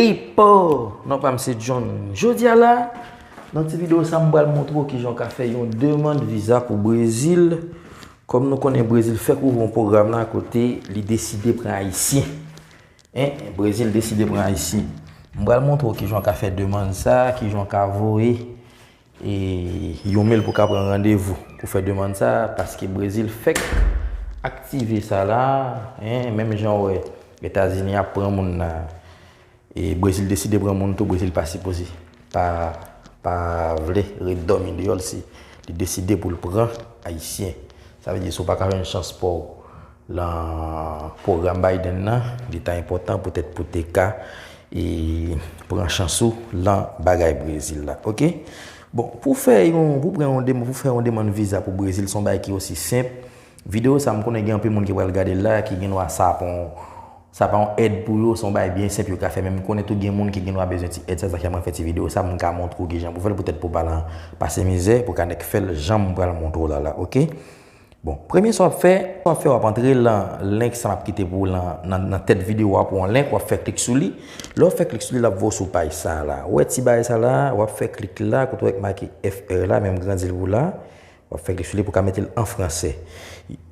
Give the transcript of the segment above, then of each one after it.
Pipo! Non pa m se John. Jodi a la, nan ti video sa m pral montre w kijan w ka fè yon demand viza pou Brezil. Kòm nou konnen Brezil fèk ouvri yon pwogram la kote li deside pran Ayisyen. Hein, Brezil deside pran Ayisyen. M pral montre w kijan w ka fè demand sa, kijan w ka voye. E yon mail pou ka pran randevou pou fè demand sa a paske Brezil fèk aktive sa la a, hein, menm jan w wè Etazini ap pran moun la a e Brezil deside pran moun tou, Brezil pa sipoze pa pa vle ret dòmi deyò l si li deside pou l pran Ayisyen. Sa vle di si w pa ka jwenn chans pa w. Lan pwogram Biden nan, li ta enpòtan poutèt pou te ka e pran chans ou lan bagay Brezil la. Ok? Bon, pou fè yon, pou pran yon demann, pou fè yon demann viza pou Brezil, son bagay ki osi senp. Videyo sa m konnen gen anpil moun ki pral gade l la, ki gen dwa sa pa yon, sa pa yon èd pou yo, son bagay byen senp yo ka fè. Men m konnen tou gen moun ki gen dwa bezwen ti èd sa, sa fè mwen fè ti videyo sa, m ka montre w ki jan pou fè l poutèt pou pa lan pase mizè, pou ka nèk fè l jan m pral montre w la la. Ok? Bon, premye sa w ap fè, w ap fè w ap antre lan link sa m ap kite pou w lan, nan tèt videyo a pou yon link, w ap fè klik sou li. Lè w fè klik sou li, l ap voye w sou paj sa la. Ou wè ti bagay sa la, w ap fè klik la, kote w wè ki make FR la, men m grandi l pou w la. W ap fè klik sou li pou w ka mete l an franse.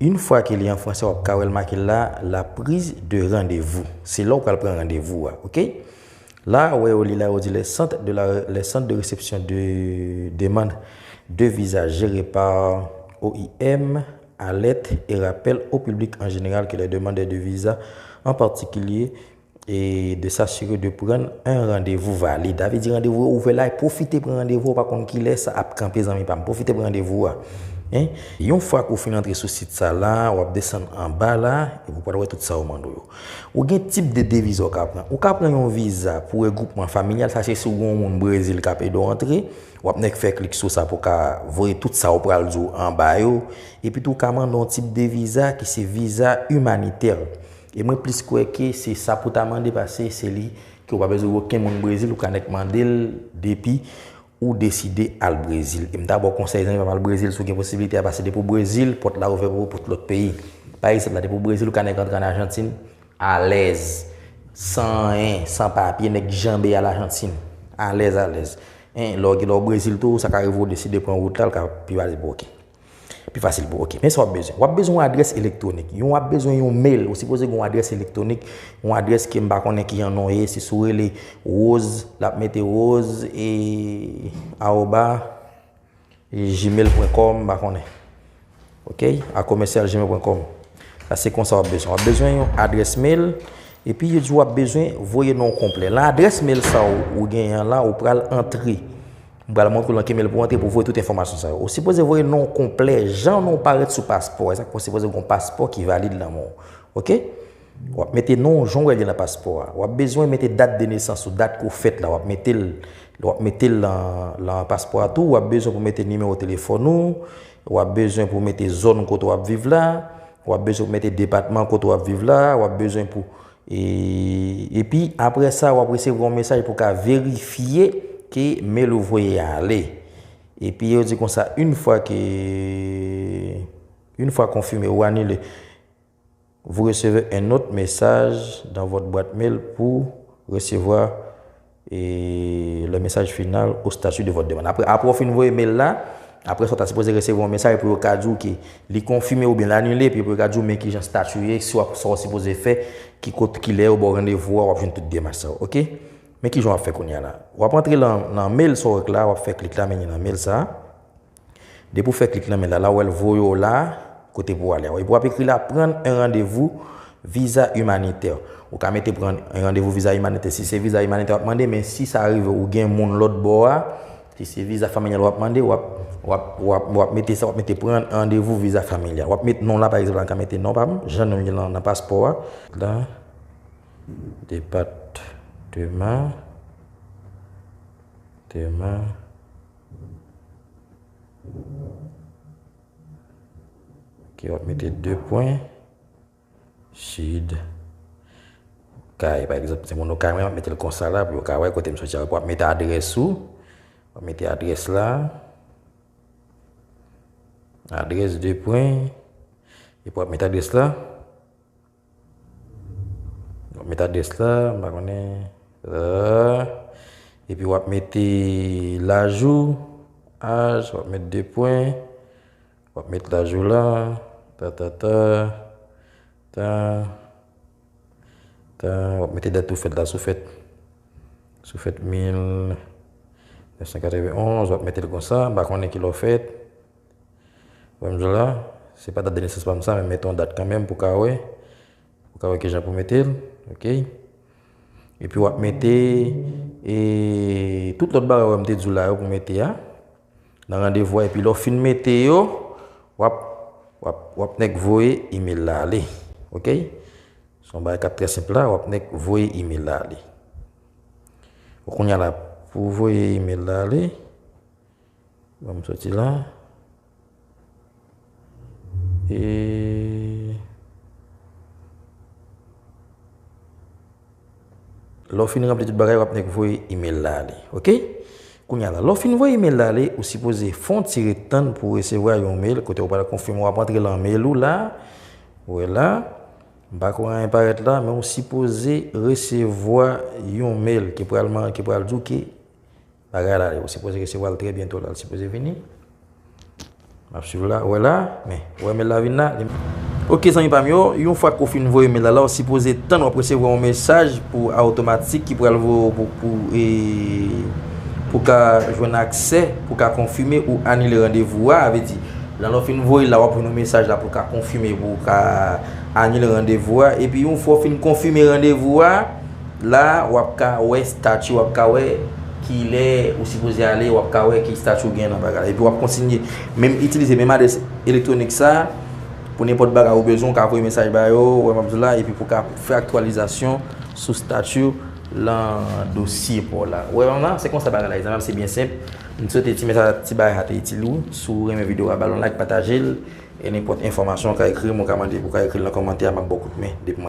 Yon fwa ke li an franse, w ap ka wè l make la, la prise de rendez-vous. Se la w pral pran randevou a, ok. La a wè yo li la yo di les centres de la les centres de réception de demande de visa gérés par oim alerte et rappelle au public en général que les demandeurs de visa en particulier de s'assurer de prendre un rendez-vous valide avè di randevou yo ouvè la a profite pran randevou ou pa konn kilè sa ap kanpe zanmi pam profite pran randevou a yon fwa ke ou fin antre sou sit sa la wap desann anba la epi ou pral wè tout sa yo mande w yo. Ou gen tip de 2 viza ou ka pran. Ou ka pran yon viza pou regwoupman familyal, sa se si ou gen yon moun Brezil k ap ede w antre, w ap nèk fè klik sou sa pou w ka voye tout sa ou pral di w anba yo. Epi tou ou ka mande yon tip de viza ki se viza imanitè. E mwen plis kwè ke se sa pou w ta mande paske se li ke ou pa bezwen oken moun Brezil, ou ka nèk mande l depi. Ou deside al Brezil. E m ta ba w konsèy zanmi pa m al Brezil si w gen posibilite a pase depi w Brezil pòt la ouvè pou ou pou lòt peyi. Pa egzanp la depi w Brezil ou ka nèk antre an Ajantin alèz san anyen, san papye nèk janbe al Ajantin alèz alèz. Lè w Brezil tou sa ka rive w deside pran wout la l ka pi pase pou w ok. Pi fasil pou ok. Men sa w ap bezwen. W ap bezwen yon adrès elektwonik. Yon w ap bezwen yon mail. Ou sipoze gen yon adrès elektwonik. Yon adrès ke m pa konnen ki jan non l ye. Se sou rele rose. L ap mete rose e awoba gmail.com m pa konnen. Ok? A komèsyal gmail.com. Sa se konsa w ap bezwen. W ap bezwen yon adrès mail. E pi yo di w ap bezwen voye non konplè. Lan adrès mail sa w ou gen yon la ou pral antre. M pral montre w nan ki mel pou w antre pou w voye tout enfòmasyon sa yo. Ou sipoze voye non w konplè, jan non w parèt sou paspò. Esak fè w sipoze gen yon paspò ki valid nan men w. Ok? W ap mete non w jan w wè li nan paspò a. W ap bezwen mete dat de nesans ou, dat ke w fèt la. W ap mete l, w ap mete l nan paspò a tou. W ap bezwen pou w mete nimewo telefòn ou. W ap bezwen pou w mete zòn kote w ap viv la. W ap bezwen pou w mete depatman kote w ap viv la. W ap bezwen pou. Epi apre sa wap resevwa yon mesaj pou ka verifye ke mail ou voye a ale. Epi yo di konsa une fwa ke, une fwa konfime ou anile, vous recevez un autre message dans votre boite mail pour recevoir E lè mesaj final ou statut de votre demande. Apre apre w fin voye mail la, apre sa w ta sipoze resevwa yon mesaj pou yo ka di w ke li konfime oubyen l anile epi pou yo ka di w men kijan statut w ye, si w ap sa w sipoze fè, ki kot kilè yo ba w randevou a w ap jwenn tout demach sa yo ok. Men kijan w ap fè kounya la. W ap antre lan mail sa w wè k la, w ap fè klik la mennen nan mail sa. Depi ou fè klik nan men la la ou wè l voye w la kote pou w ale a. Epi w ap ekri la pran un rendez-vous visa humanitaire. Ou ka mete pran un rendez-vous visa humanitaire si se visa humanitaire w ap mande men si sa rive ou gen moun lòt bò a, si se visa familial w ap mande w ap w ap w ap w ap mete sa w ap mete pran un rendez-vous visa familial. W ap mete non w la pa egzanp la m ka mete non pa m jan non m ye lan nan paspò a. Lan depatman depatman. Ok, wap mete 2 pwen. Sid. Kay, pa egzanp, se moun ou kay mwen, wap mete l konsa la, pou yo ka wè kote m soti a. Wap mete adrès ou. Wap mete adrès la. Adrès 2 pwen. Epi wap mete adrès la. Wap met adrès la, m pa konnen euh epi wap mete laj ou, aj, wap met 2 pwen, wap met laj ou la, ta ta ta, ta, ta, wap mete dat ou fèt la, si w fèt, si w fèt 1991, wap mete l konsa, m pa konnen ki lè w fèt. Wè m jwenn la, se pa dat de nesans pa m sa men mete yon dat kanmenm pou w ka wè, pou w ka wè kijan pou w mete l ok. Epi wap mete e tout lòt bagay wè m te di w la yo pou w mete a nan randevou a epi lè w fin mete yo wap wap wap nèk voye email la ale ok. Se yon bagay kap trè senp la wap nèk voye email la ale. Bon kounya la pou w voye email la ale. Banm soti la. Et. Lè w fin ranpli tout bagay wap nèk voye email la ale ok. Kounya la lè w fin voye email la ale ou sipoze fon ti ret tann pou w resevwa yon mail kote yo pral konfime wap antre lan mail ou la. Ou wè la. M pa kwè anyen parèt la men ou sipoze resevwa yon mail ki pral man ki pral di w ke. Bagay la yo sipoze resevwal trè byento lal sipoze vini map swiv la wè la men ou wè mail la vin la li Ok zanmi pam yo yon fwa ke ou fin voye mail la la ou sipoze tann wap resevwa yon mesaj pou automatik ki pral voye ou pou pou e pou ka jwenn aksè pou ka konfime ou anile randevou a avè di lè ou fin voye la wap jwenn yon mesaj la pou ka konfime pou ka anile randevou a epi yon fwa ou fin konfime randevou a. La wap ka wè statut wap ka wè kilè ou sipoze ale wap ka wè ki statut ou gen nan bagay la epi wap kontinye menm itilize menm adrès elektronik sa pou nenpòt bagay ou bezwen ou ka voye mesaj ba yo wè map di la epi pou ka fè aktyalizasyon sou statut ou lan dosye paw la ou wè banm la se konsa bagay la ye zanmi se byen senp m swete ti mesaj ti bagay sa te itil ou si w renmen video a bal yon like patajel e nenpòt enfòmasyon ou ka ekrim ou ka mande ou ka ekril nan kòmantè a map baw kout men depi mwen.